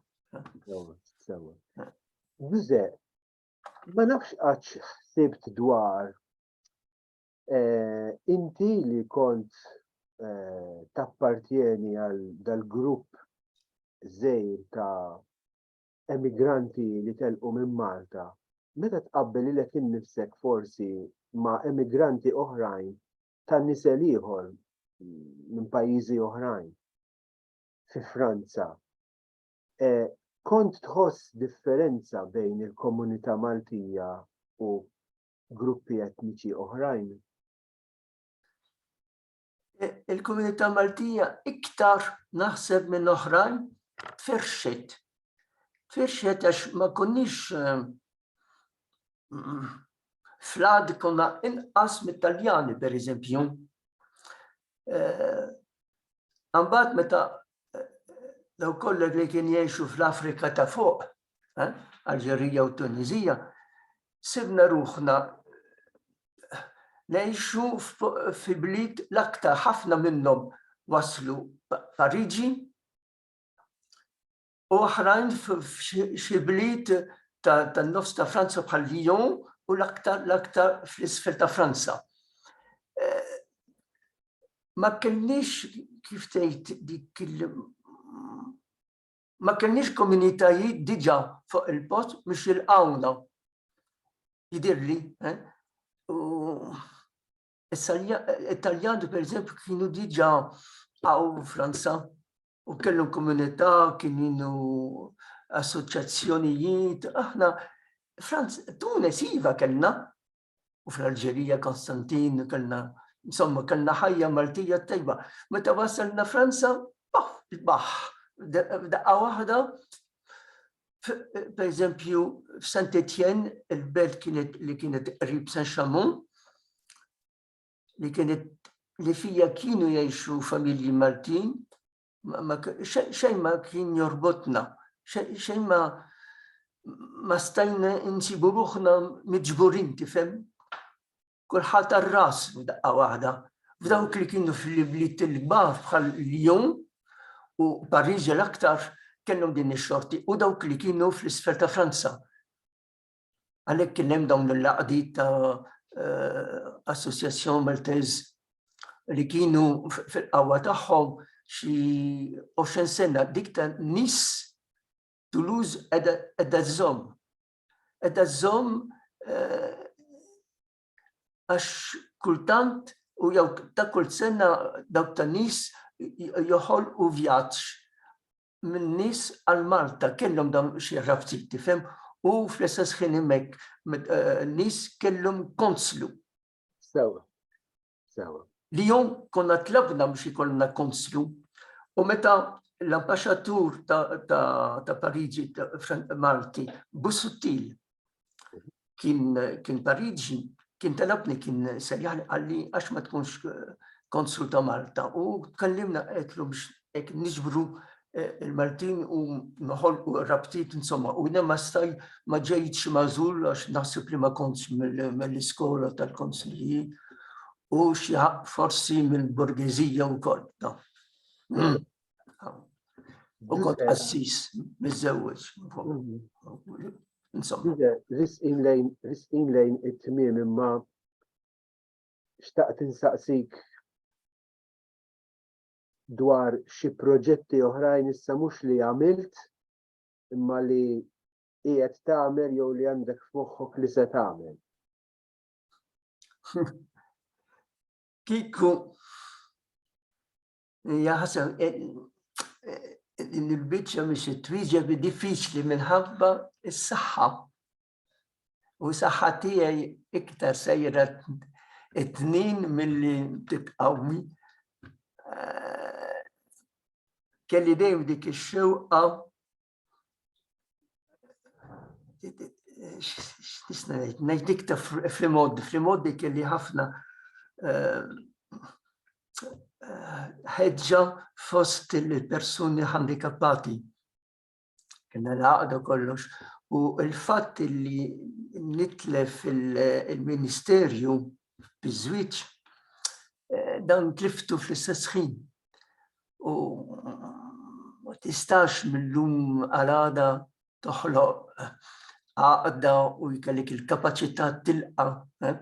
Ġuże, ma nafx għax ħsibt dwar eh, inti li kont eh, tappartjeni għal dal-grupp zejr ta' emigranti li telqu minn Malta, meta tqabbel ilek innifsek forsi ma' emigranti oħrajn ta' nisel ieħor minn pajjiżi oħrajn fi Franza Eh, kont tħoss differenza bejn il-komunità Maltija u gruppi etniċi oħrajn? E, il-komunità Maltija iktar naħseb minn oħrajn tfirxet. Tfirxet għax ma konniex eh, mm, flad konna inqas mit-Taljani, per eżempju. Għambat eh, meta daw kollha li kien jgħixu fl-Afrika ta' fuq, eh, Alġerija u Tunizija, sibna ruħna ngħixu fi bliet l-aktar ħafna minnhom waslu Pariġi u oħrajn f'xi bliet tan-nofs ta' Franza bħal Lyon u l-aktar l-aktar fl-isfel ta' Franza. Eh, ma kellix kif tgħid dik ma kellix komunitajiet diġà fuq il-post biex jilqawna. Jidirli, eh? u Italjani per eżempju kienu diġà għaw Franza u kellu komunità kienu assoċjazzjonijiet, aħna Franz Tunes iva kellna, u fl-Alġerija, Konstantin, kellna, insomma, kellna ħajja Maltija tajba. Meta wasalna Franza, baħ, baħ, daqqa waħda, per eżempju, f'Saint Etienne, il-belt kienet li kienet qrib San Xamun, li kienet li fija kienu jgħixu familji Maltin, xejn ma kien jorbotna, xejn ma ma stajna insibu ruħna miġburin tifhem. Kulħadd għar-ras f'daqqa waħda. F'dawk li kienu fl-ibliet il-kbar bħal Lyon u Pariġi l-aktar kellhom din ix-xorti u dawk li kienu fl-isfel ta' Franza. Għalhekk kien hemm dawn l-laqdiet ta' eh, Association Maltez li kienu fil-qawwa tagħhom xi 20 sena dik ta' nis Toulouse edha żomm. Edha żomm eh, għax kultant u jew ta' kull sena dawk ta' nis joħol u vjaġġ minn nies għal Malta kellhom dawn xi ħraftit tifhem u fl-istess ħin hemmhekk eh, nies kellhom konslu. Sewa. Sewa. Li jom konna tlabna biex ikollna konslu u meta l-ambasċatur ta', ta, ta Pariġi Malti Busuttil kien kien tarid kien telabni kien sejjan għalli għax ma tkunx eh, konsul ta' Malta u tkellimna qedlu biex hekk niġbru eh, il-Maltin u noħolqu rabtiet insomma u jina ma staj ma ġejt xi mażul għax naħseb li ma kontx mill-iskola tal-konsilji u xi forsi mill-borgezija wkoll. U kont qassis miżewweġ. Insomma. Risqin lejn, risqin lejn it-tmiem imma xtaqt insaqsik dwar xi proġetti oħrajn issa mhux li għamilt imma li qiegħed tagħmel jew li għandek f'moħħok li se tagħmel. Kikku Hija ħasra din il-biċċa biex twieġeb diffiċli minħabba s-saħħa. U saħħa tiegħi iktar sejra it-tnin milli titqawmi. Eh, kelli dejjem dik ix-xewqa x'tisna ngħid, ngħid dik ta' flimod, flimod dik li ħafna eh, eh, ħeġġa fost il-persuni handikappati. Kena l-għaqda kollox. U il-fatt li nitlef il-ministerju bizzwiċ, eh, dan tliftu fl-istess ħin. u ma tistax mill-lum għal-għada toħloq għaqda u jkellik il-kapacità tilqa. Eh?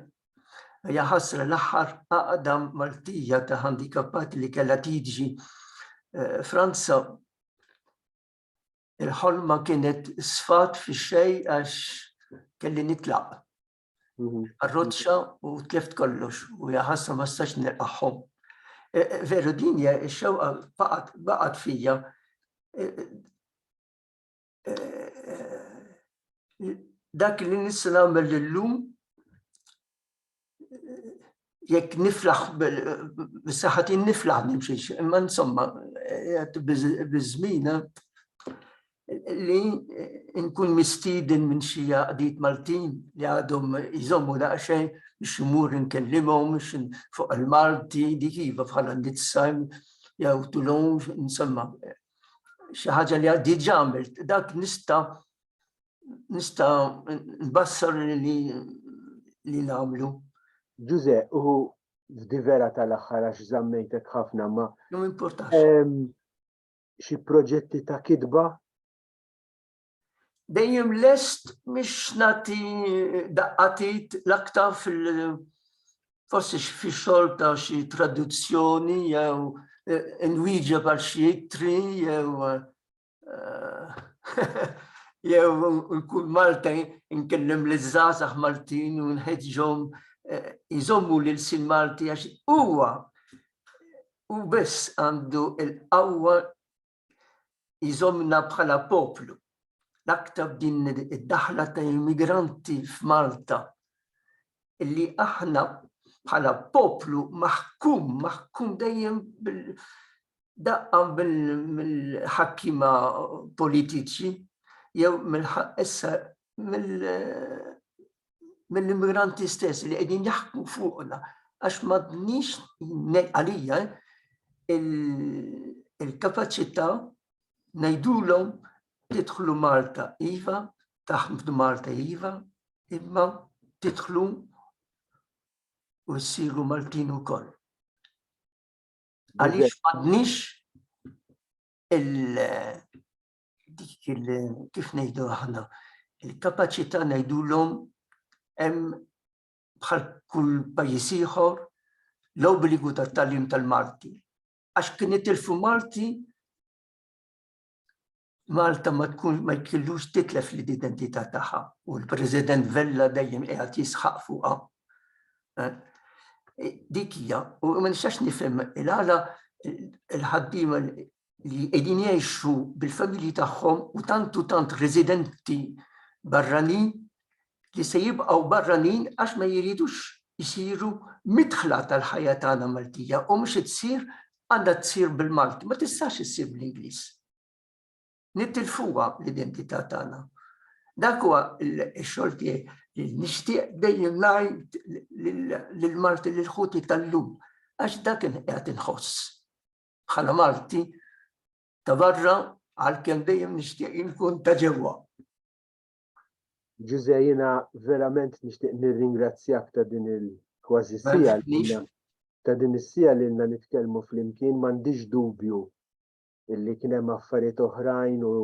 Hija ħasra l-aħħar għaqda Maltija ta' handikappati li kellha tiġi eh, Franza il-ħolma kienet sfat fi xej għax kelli nitlaq. Mhm. Arroċċa u tlift kollox u jaħassa ma stax nilqaħħom. E, e, veru din hija x-xewqa baqgħet fija e, dak li nista' nagħmel illum jekk niflaħ bis-saħħati niflaħ nimxiex, imma insomma biż-żmina li nkun mistiden minn xi għaqdiet Maltin li għadhom jżommu daqsxejn biex imur nkellimhom fuq il-Malti dik iva bħala nizza jew tulun insomma xi ħaġa li għaddi ġamilt dak nista' nista nbassar li li namlu. Ġuze, u vera tal-axħar għax zammejtek ħafna ma. Jum importax. Xi proġetti ta' kidba? Dejjem lest miex nati daqqatit l-aktar fil- forsi fi xogħol ta' xi traduzzjoni jew eh, inwieġeb għal xi ittri jew eh, jew nkun Malta nkellem li żgħażagħ Maltin u nħeġġhom eh, jżommu lil sin Malti għax huwa u biss għandu il-qawwa jżomna bħala poplu. L-aktar din id-daħla ta' immigranti f'Malta li aħna bħala poplu maħkum, maħkum dejjem daqqa mill-ħakkima politiċi jew mill-ħaqqessa mill-immigranti stess li qegħdin jaħkmu fuqna għax m'għadniex għalija il-kapaċità ngħidulhom Tidħlu Malta iva, taħdmu f'Malta iva, imma tidħlu u ssiru Maltin ukoll. Għaliex m'għadniex dik kif ngħidu aħna, il-kapaċità ngħidulhom hemm bħal kull pajjiż ieħor l-obbligu tat-tagħlim tal-Malti. Għax kien itilfu Malti Malta ma tkun ma jkillux titlef l-identità tagħha u l-President Vella dejjem qiegħed jisħaq fuqha. Eh, eh, dik hija, u ma nistax nifhem il-għala il-ħaddiema li qegħdin jgħixu bil-familji tagħhom u tantu tant residenti barranin li se jibqgħu barranin għax ma jridux isiru midħla tal-ħajja tagħna Maltija u mhux issir għandha tsir bil-Malti, ma tistax issir bl-Ingliż. Nittilfuha l-identità tagħna. Dak huwa x-xogħol tiegħi li nixtieq dejjem ngħid lil Malti lil ħuti tal-lum għax dak qed inħoss. Bħala Malti ta' barra għalkemm dejjem nixtieq inkun ta' ġewwa. Ġuże jiena verament nixtieq nirringrazzjak ta' din il-kważi sija ta' din is-sija li lna nitkellmu flimkien m'għandix dubju illi kien hemm affarijiet oħrajn u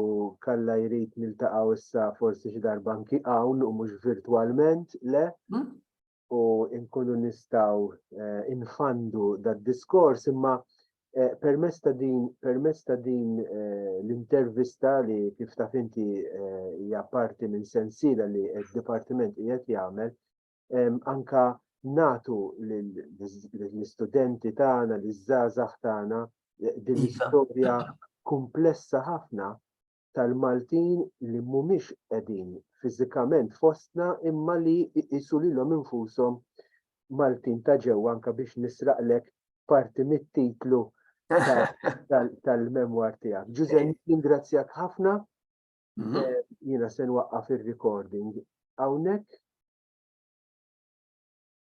kalla jrid niltaqgħu issa forsi xi darba anki hawn u mhux virtwalment, le? Hmm? u nkunu nistgħu eh, infandu dad-diskors imma eh, permess ta' din permess ta' din eh, l-intervista li kif taf inti hija parti minn sensiela li d-dipartiment qiegħed jagħmel anka natu l-istudenti tagħna, l-żgħażagħ tagħna din l-istorja komplessa ħafna tal-Maltin li mhumiex qegħdin fiżikament fostna imma li jqisu lilhom infushom Maltin ta' ġewwa anke biex nisraqlek parti mit-titlu tal-memwar tiegħek. Ġuże, ningrazzjak ħafna. Mhm. Eh, jiena se nwaqqaf ir-recording hawnhekk